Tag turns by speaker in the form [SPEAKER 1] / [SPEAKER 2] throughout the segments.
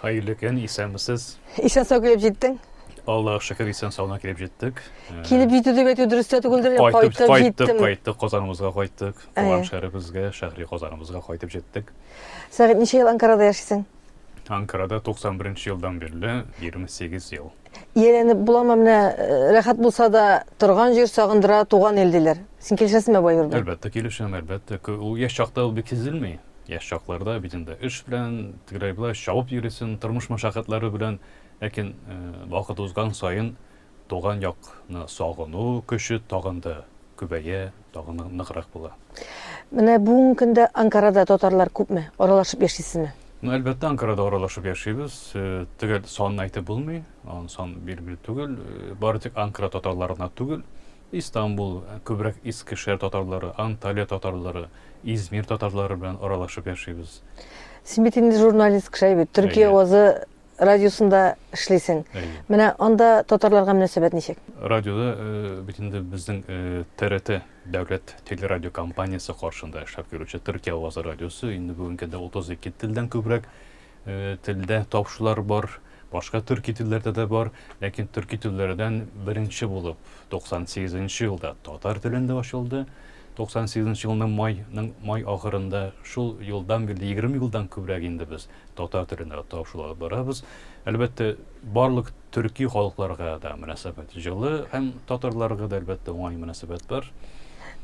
[SPEAKER 1] Хәерле көн,
[SPEAKER 2] исәнмесез. Исән сау килеп
[SPEAKER 1] җиттең. Аллаһ шөкер
[SPEAKER 2] исән саулы килеп җиттек. Э, килеп җитү дип
[SPEAKER 1] әйтү дөрес тә түгелдер, кайтып җиттем. Кайттык, кайттык,
[SPEAKER 2] Казаныбызга кайттык. Э. Туган шәһәребезгә, шәһри Казаныбызга кайтып җиттек. Сәгыйть, ничә ел
[SPEAKER 1] Анкарада яшисең? Анкарада
[SPEAKER 2] 91 елдан бирле 28 ел. Ияләнеп буламы
[SPEAKER 1] менә э, рәхәт булса да торган җир сагындыра туган ил диләр. Син килешәсеңме бай урда? Әлбәттә килешәм, әлбәттә.
[SPEAKER 2] Ку- Ул яшь чакта ул бик сизелми. Яшь чакларда бит инде эш белән тегеләй беләй чабып йөрисең, тормыш мәшәкатьләре белән. Ләкин э, вакыт узган саен туган якны сагыну көче тагын да Күбәя, тагы ныграк була. Менә
[SPEAKER 1] бүгенге көндә Анкарада татарлар күпме? Аралашып яшисезме? Ну, әлбәттә, Анкарада
[SPEAKER 2] аралашып яшибез. Э, төгәл санын әйтеп булмый. Аның сан билгеле түгел. Э, бары тик Анкара татарлары гына түгел. Истанбул, э, күбрәк Искешәр татарлары, Анталия татарлары, Измир татарлары белән аралашып яшибез. Син бит инде
[SPEAKER 1] журналист кеше бит. Төркия авазы радиосында эшлисең. Менә анда татарларга мөнәсәбәт ничек? Радиода э,
[SPEAKER 2] бит инде безнең э, ТРТ дәүләт телерадио компаниясе каршында эшләп йөрүче Төркия авазы радиосы инде бүгенге көндә 32 телдән күбрәк э, телдә тавышлар бар. Башка төрки телләрдә дә бар, ләкин төрки телләрдән беренче булып 98 нче елда татар телендә ачылды. 98 елның майның май ахырында шул елдан бирле 20 елдан күбрәк инде без татар теленә тапшыру алып барабыз. Әлбәттә, барлык төрки халыкларга да мөнәсәбәт җылы һәм татарларга да әлбәттә уңай мөнәсәбәт бар.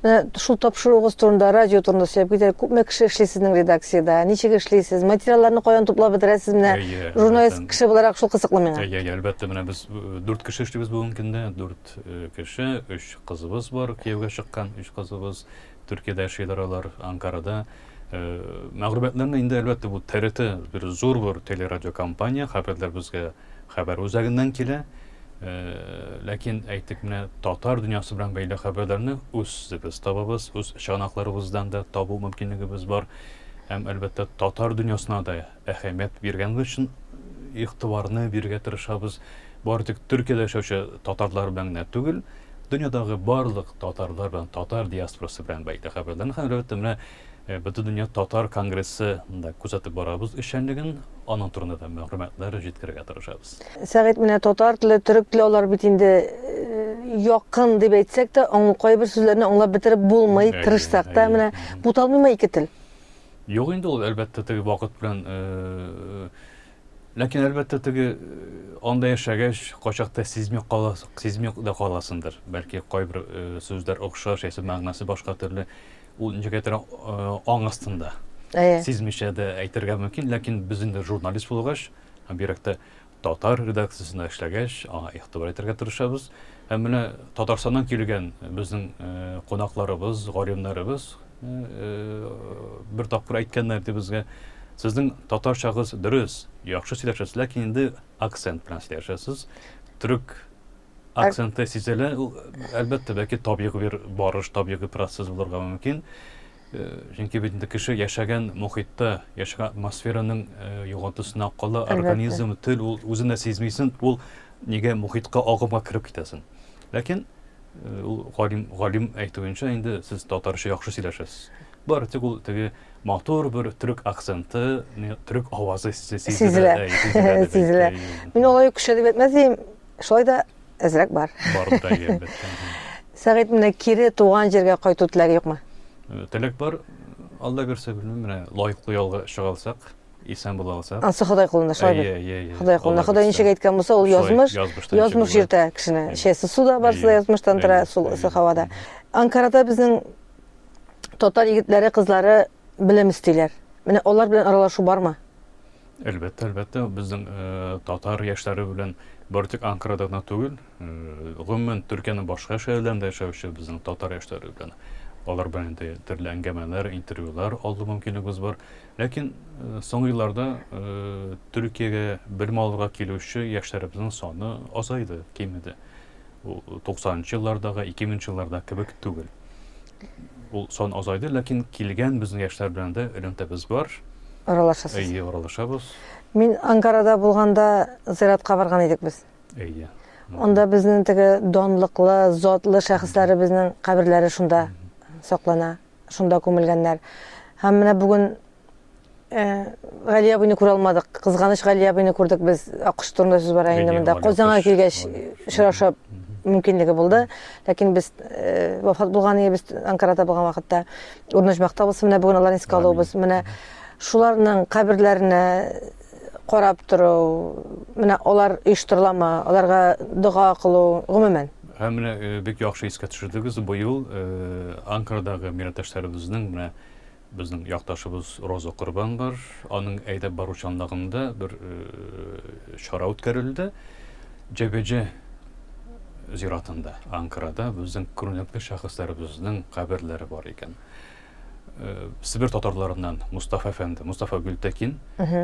[SPEAKER 2] Менә шул
[SPEAKER 1] тапшыруыгыз турында, радио турында сөйләп китәләр. Күпме кеше эшли сезнең редакциядә? Ничек эшлисез? Материалларны каян туплап бетерәсез? Менә журналист кеше буларак шул кызыклы миңа. Әйе, әйе, әлбәттә, менә без
[SPEAKER 2] дүрт кеше эшлибез бүгенге көндә. Дүрт кеше, өч кызыбыз бар, кияүгә чыккан өч кызыбыз, Төркиядә яшиләр алар, Анкарада. Мәгълүматларны инде, әлбәттә, бу ТРТ бер зур бер телерадиокомпания, хәбәрләр безгә хәбәр үзәгеннән килә. Ләкин әйтик, менә татар дөньясы белән бәйле хәбәрләрне үзебез табабыз, үз чыганакларыбыздан да табу мөмкинлегебез бар. Һәм, әлбәттә, татар дөньясына да Әһәмият биргәнегез өчен игътибарны бирергә тырышабыз. Бары тик Төркиядә яшәүче татарлар белән генә түгел, дөньядагы барлык татарлар белән, татар диаспорасы белән бәйле хәбәрләрне һәм, әлбәттә, менә Бөтендөнья татар конгрессы да күзәтеп барабыз эшчәнлеген, аның турында да мәгълүматлар җиткерергә тырышабыз. Сәгыйть, менә татар
[SPEAKER 1] теле, төрек теле алар бит инде якын дип әйтсәк тә, кайбер сүзләрне аңлап бетереп булмый, тырышсак та, менә буталмыймы ике тел? Юк инде
[SPEAKER 2] ул, әлбәттә, теге вакыт белән. Ләкин, әлбәттә, теге анда яшәгәч, качакта сизми каласың, сизми дә каласыңдыр. Бәлки кайбер сүзләр охшаш, яисә мәгънәсе башка төрле. Ул ничектер аң астында. Сизмичә дә әйтергә мөмкин, ләкин без инде журналист булгач, бигрәк тә Татар редакциясендә эшләгәч, аңа игътибар итәргә тырышабыз. Һәм менә Татарстаннан килгән безнең кунакларыбыз, галимнәребез бер тапкыр әйткәннәр иде безгә, Сезнең татарчагыз дөрес, яхшы сөйләшәсез, ләкин инде акцент белән сөйләшәсез. Төрек акценты сизелә. Ул, әлбәттә, бәлки табигый бер барыш, табигый процесс булырга мөмкин. Э, чөнки бит инде кеше яшәгән мохитта, яшәгән атмосфераның э, югалтысына кала, организм, тел ул үзен дә сизмисен, ул нигә мохитка агымга кереп китәсен. Ләкин э, ул галим галим әйтүенчә инде сез татарча яхшы сөйләшәсез. Бар тик ул теге матур бер төрек акценты, төрек авазы сизелә. Сизелә.
[SPEAKER 1] Мин алай көчләнеп әйтмәс идем. Шулай да әзрәк бар. Бар
[SPEAKER 2] да әлбәттә. Сәгыйть, менә
[SPEAKER 1] кире туган җиргә кайту теләге юкмы? Э, теләк бар.
[SPEAKER 2] Алла бирсә, белмим, менә лаеклы ялга чыга алсак, исән була алсак. Ансы Ходай кулында шулай бит.
[SPEAKER 1] Иә, иә, иә. Ходай кулында. Ходай ничек әйткән булса, ул язмыш. Язмыш йөртә кешене. Шәсе суда барсы да язмыштан тора, су һавада. Анкарада безнең татар егетләре, кызлары белем истиләр. Менә алар белән аралашу бармы? Әлбәттә,
[SPEAKER 2] әлбәттә, безнең э, татар яшьләре белән бары тик Анкарада гына түгел, э, гомумән Төркиянең башка шәһәрләрендә яшәүче безнең татар яшьләре белән алар белән инде төрле әңгәмәләр, интервьюлар алу мөмкинлегебез бар. Ләкин э, соңгы елларда э, Төркиягә белем алырга килүче яшьләребезнең саны азайды, кимеде. Ул 90 нчы еллардагы, 2000 нчы еллардагы кебек түгел. Ул сан азайды, ләкин килгән безнең яшьләр белән дә элемтәбез бар. Аралашасыз?
[SPEAKER 1] Әйе, аралашабыз.
[SPEAKER 2] Мин
[SPEAKER 1] Анкарада булганда зиратка барган идек без. Әйе.
[SPEAKER 2] Анда безнең
[SPEAKER 1] теге данлыклы, затлы шәхесләребезнең каберләре шунда саклана, шунда күмелгәннәр. Һәм менә бүген Э, Гали абыйны күрә алмадык. Кызганыч Гали абыйны күрдек без. Аккош турында сүз бара инде монда. Казанга килгәч очрашып мөмкинлеге булды. Ләкин без э, вафат булган иде без Анкарада булган вакытта. Урныш мактабыз менә бүген аларны искә алуыбыз. Менә шуларның каберләренә карап тору, менә алар оештырыламы, аларга дога кылу, гомумән. Һәм менә э, бик
[SPEAKER 2] яхшы искә төшердегез. Быел Анкарадағы миратташларыбызның менә Безнең якташыбыз Роза Корбан бар, аның әйдәп баручанлыгында бер чара үткәрелде. Җәбеҗә зиратында, Анкарада безнең күренекле шәхесләребезнең каберләре бар икән. Себер татарларыннан Мустафа әфәнде, Мустафа Гөлтәкин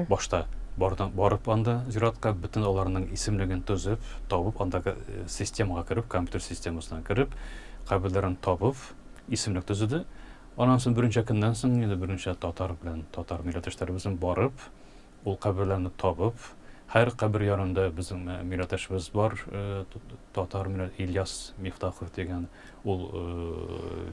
[SPEAKER 2] башта барып анда зиратка бөтен аларның исемлеген төзеп, табып андагы системага кереп, компьютер системасына кереп, каберләрен табып, исемлек төзеде. Аннан соң берничә көннән соң инде берничә татар белән татар милләттәшләребезнең барып, ул каберләрне табып, һәр кабер янында безнең милләттәшебез бар, татар милләт Ильяс Мифтахов дигән, ул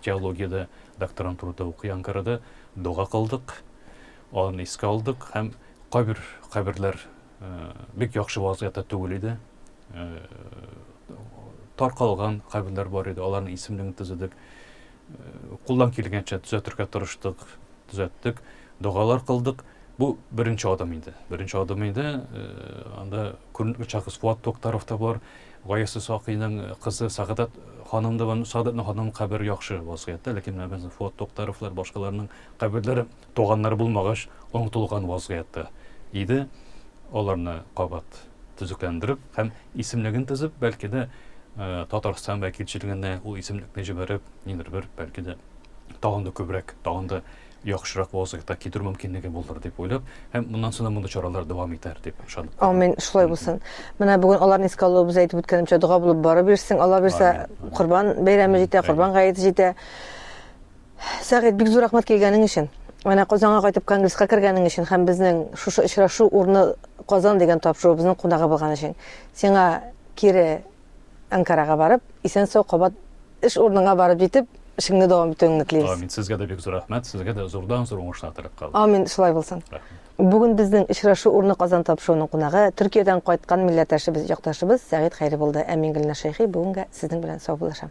[SPEAKER 2] теологиядә докторантурада укый Анкарада, дога кылдык, аны искә алдык һәм кайбер каберләр бик яхшы вазгыятьтә түгел иде. Таркалган каберләр бар иде, аларның исемлеген төзедек. Кулдан килгәнчә төзәтергә тырыштык, төзәттек, догалар кылдык. Бу беренче адым инде. Беренче адым инде. Анда күренекле шәхес Фуат Токтаров та бар. Гаясы Сакыйның кызы Сагадат ханым да бар. Сагадатның ханым кабере яхшы вазгыятьтә, ләкин менә без Фуат Токтаровлар, башкаларның каберләре Туганнары булмагач онытылган вазгыятьтә иде, аларны кабат төзекләндереп һәм исемлеген төзеп, бәлки дә Татарстан вәкилчелегенә ул исемлекне җибәреп, ниндер бер, бәлки дә тагын да күбрәк, тагын да яхшырак вазгыятьтә китерү мөмкинлеге булыр дип уйлап, һәм моннан соң да мондый чаралар дәвам итәр дип ышанып калам. Амин, шулай булсын.
[SPEAKER 1] Менә бүген аларны искә алуыбыз, әйтеп үткәнемчә, дога булып барып йөрсен, Алла бирсә, Корбан бәйрәме җитә, Корбан гаете җитә. Сәгыйть, бик зур рәхмәт килгәнең өчен. Менә Казанга кайтып конгресска кергәнең өчен һәм безнең шушы очрашу урны Казан дигән тапшыруыбызның кунагы булган өчен. Сиңа кире Анкарага барып, исән-сау кабат эш урыныңа барып җитеп, эшеңне дәвам итүеңне телибез. Амин. Сезгә дә бик зур рәхмәт.
[SPEAKER 2] Сезгә дә зурдан-зур уңышлар теләп калам. Амин, шулай булсын. Рәхмәт.
[SPEAKER 1] Бүген безнең очрашу урны Казан тапшыруының кунагы, Төркиядән кайткан милләттәшебез, якташыбыз Сәгыйть Хәйри булды. Ә мин, Гөлназ Шәйхи, бүгенгә сезнең белән саубуллашам.